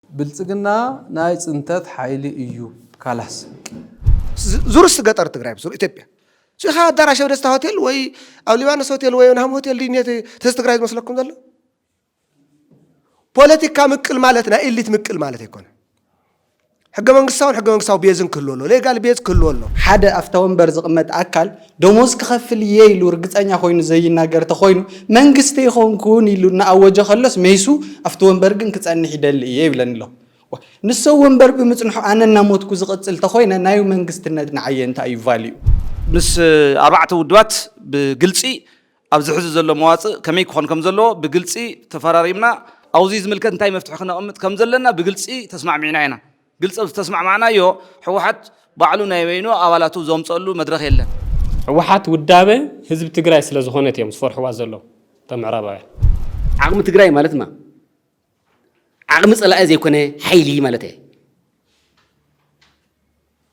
ብልፅግና ናይ ፅንተት ሓይሊ እዩ ካላስ። ዙርስ ገጠር ትግራይ ብሱር ኢትዮጵያ ሲኻ ኣዳራሽ ደስታ ሆቴል ወይ ኣብ ሊባኖስ ሆቴል ወይ ናም ሆቴል ድዩ ተዚ ትግራይ ዝመስለኩም ዘሎ ፖለቲካ ምቅል ማለት ናይ ኤሊት ምቅል ማለት ኣይኮነ ሕገ መንግስታውን ሕገ መንግስታዊ ቤዝን ክህሉ ኣሎ ሌጋል ቤዝ ክህሉ ኣሎ ሓደ ኣብታ ወንበር ዝቕመጥ ኣካል ደሞዝ ክኸፍል እየ ኢሉ ርግጸኛ ኮይኑ ዘይናገር ተኾይኑ መንግስቲ ኣይኮንኩን ኢሉ እናኣወጀ ከሎስ ሜሱ ኣብቲ ወንበር ግን ክጸንሕ ይደሊ እየ ይብለኒ ኣሎ ንሶ ወንበር ብምጽንሑ ኣነ እናሞትኩ ዝቕጽል ተኾይነ ናይ መንግስትነት ንዓየ እንታይ እዩ ቫልዩ? ምስ ኣርባዕተ ውድባት ብግልጺ ኣብዚ ሕዚ ዘሎ መዋጽእ ከመይ ክኾን ከም ዘለዎ ብግልጺ ተፈራሪምና፣ ኣውዚ ዝምልከት እንታይ መፍትሒ ክነቕምጥ ከም ዘለና ብግልጺ ተስማዕሚዕና ኢና። ግልጺ ኣብ ዝተስማዕማዕናዮ ህወሓት ባዕሉ ናይ በይኑ ኣባላቱ ዘምጸሉ መድረኽ የለን። ህወሓት ውዳበ ህዝቢ ትግራይ ስለ ዝኾነት እዮም ዝፈርሕዋ ዘለዉ እቶም ምዕራባውያን። ዓቕሚ ትግራይ ማለት ማ? ዓቕሚ ጸላኢ ዘይኮነ ሓይሊ ማለት እየ።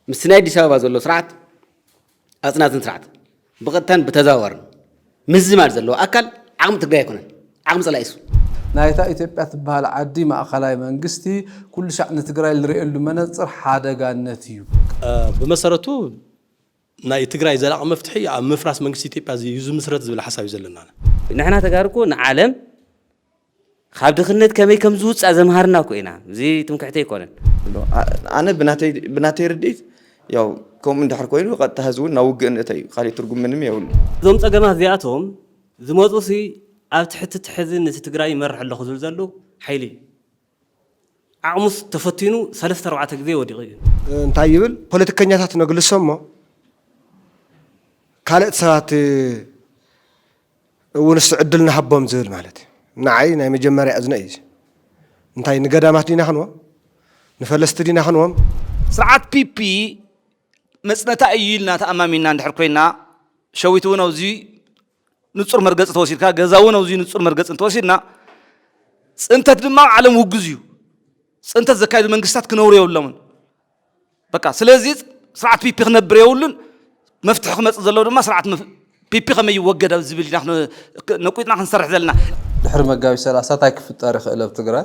ምስቲ ናይ ኣዲስ ኣበባ ዘሎ ስርዓት ኣጽናትን ስርዓት ብቐጥታን ብተዘዋዋርን ምዝማድ ዘለዎ ኣካል ዓቕሚ ትግራይ ኣይኮነን፣ ዓቕሚ ጸላኢ እሱ። ናይታ ኢትዮጵያ ትበሃል ዓዲ ማእኸላይ መንግስቲ ኩሉሻዕ ንትግራይ ልርእየሉ መነፅር ሓደጋነት እዩ። ብመሰረቱ ናይ ትግራይ ዘላቂ መፍትሒ ኣብ ምፍራስ መንግስቲ ኢትዮጵያ እዩ ዝምስረት ዝብል ሓሳብ እዩ ዘለና። ንሕና ተጋሩ እኮ ንዓለም ኻብ ድኽነት ከመይ ከም ዝውጻእ ዘምሃርና እኮ ኢና እዚ ትምክሕቲ ኣይኮነን። ኣነ ብናተይ ርድኢት ያው ከምኡ እንድሕር ኮይኑ ቀጥታ ህዝቢ እውን ናብ ውግእ ንእተ እዩ ካሊእ ትርጉም ምንም የብሉ። እዞም ፀገማት እዚኣቶም ዝመፁ ሲ ኣብ ትሕቲ እቲ ሕዚ ንቲ ትግራይ ይመርሕ ኣለኹ ዝብል ዘሉ ሓይሊ እዩ። ዓቕሙስ ተፈቲኑ ሰለስተ ኣርባዕተ ግዜ ወዲቑ እዩ። እንታይ ይብል ፖለቲከኛታት ነግልሶ እሞ ካልእት ሰባት እውን እስቲ ዕድል ንሃቦም ዝብል ማለት እዩ። ንዓይ ናይ መጀመርያ እዝነ እዩ እዚ። እንታይ ንገዳማት ዲና ክንዎም? ንፈለስቲ ዲና ክንዎም? ስርዓት ፒፒ መጽነታ እዩ ኢልና ተኣማሚንና እንድሕር ኮይንና፣ ሸዊት እውን ኣብዚ ንጹር መርገጺ ተወሲድካ ገዛ እውን ኣብዚ ንጹር መርገጺ እንተወሲድና ፅንተት ድማ ዓለም ውግዝ እዩ ፅንተት ዘካይዱ መንግስታት ክነብሩ የብሎምን በቃ ስለዚ ስርዓት ፒፒ ክነብር የብሉን መፍትሒ ክመፅእ ዘለዎ ድማ ስርዓት ፒፒ ከመይ ይወገድ ኣብ ዝብል ኢና ነቁጥና ክንሰርሕ ዘለና ድሕሪ መጋቢት ሰላሳ እንታይ ክፍጠር ይኽእል ኣብ ትግራይ